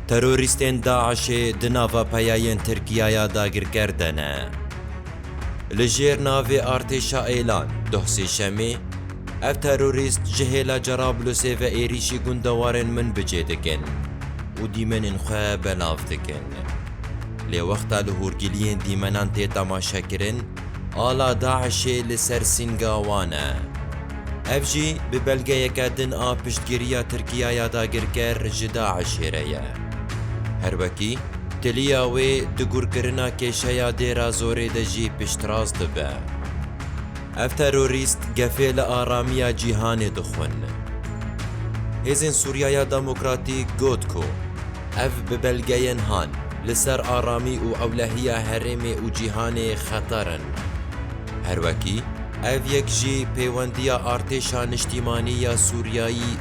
Terorîstên DAIŞ'ê di nava peyayên Tirkiya ya dagirker de ne. Li jêr navê Artêşa Êlan, doh Sêşemê, ev terorîst ji hêla Cerablusê ve êrîşî gundewarên Minbicê dikin û dîmenên xwe belav dikin. Lê wexta li hûrgiliyên dîmenan tê temaşekirin, Ala DAIŞ'ê li ser sînga wan e. Ev jî bi belgeyeke din a piştgiriya Tirkiya ya dagirker ji DAIŞ'ê re ye. Her wekî, tiliya wê di gurkirina kêşeya Dêra Zorê de jî piştrast dibe. Ev terorîst gefê li aramiya cîhanê dixwin. Hêzên Sûriya ya Demokratîk got ku, Ev bi belgeyên han, li ser aramî û ewlehiya herêmê û cîhanê xeter in. Her wekî, ev yek jî pêwendiya Artêşa Niştîmanî ya Sûriyayî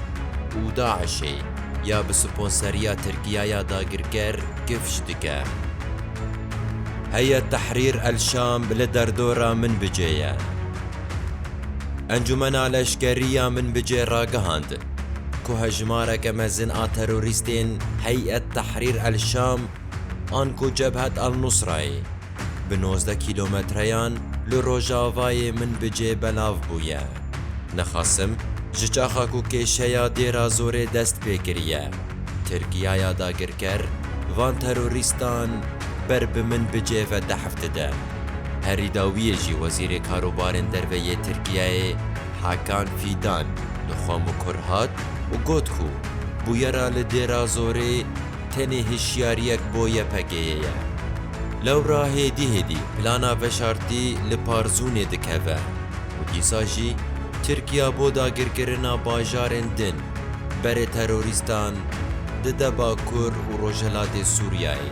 û DAIŞ'ê ya bi sponseriya Tirkiyaya dagirker gifj dike. Heyet Tehrîr el-Şam li derdora Minbicê ye. Encûmena Leşkerî ya Minbicê ragihand, ku hejmareke mezin a terorîstên Hey'et Tehrîr el-Şam an ku Cebhet el-Nusra ye, bi nozdeh kîlometreyan li rojavayê min bi cê belav bûye. Nixasim ji çaxa ku kêşeya Dêra Zorê dest pê kiriye, Tirkiyaya dagirker van terorîstan ber bi min bi cê ve tehf dide. Herî dawiyê jî Wezîrê Karobarên Derve yê Tirkiyeyê, Hakan Fîdan li Xwemukur hat û got ku bûyera li Dêrazorê tenê hişyariyek bo YPG'yê ye. Lewra hêdî hêdî plana veşartî li Parzûnê dikeve û dîsa jî Tirkiya bo dagirkirina bajarên din berê terorîstan dide Bakur û Rojhilatê Sûriyeyê.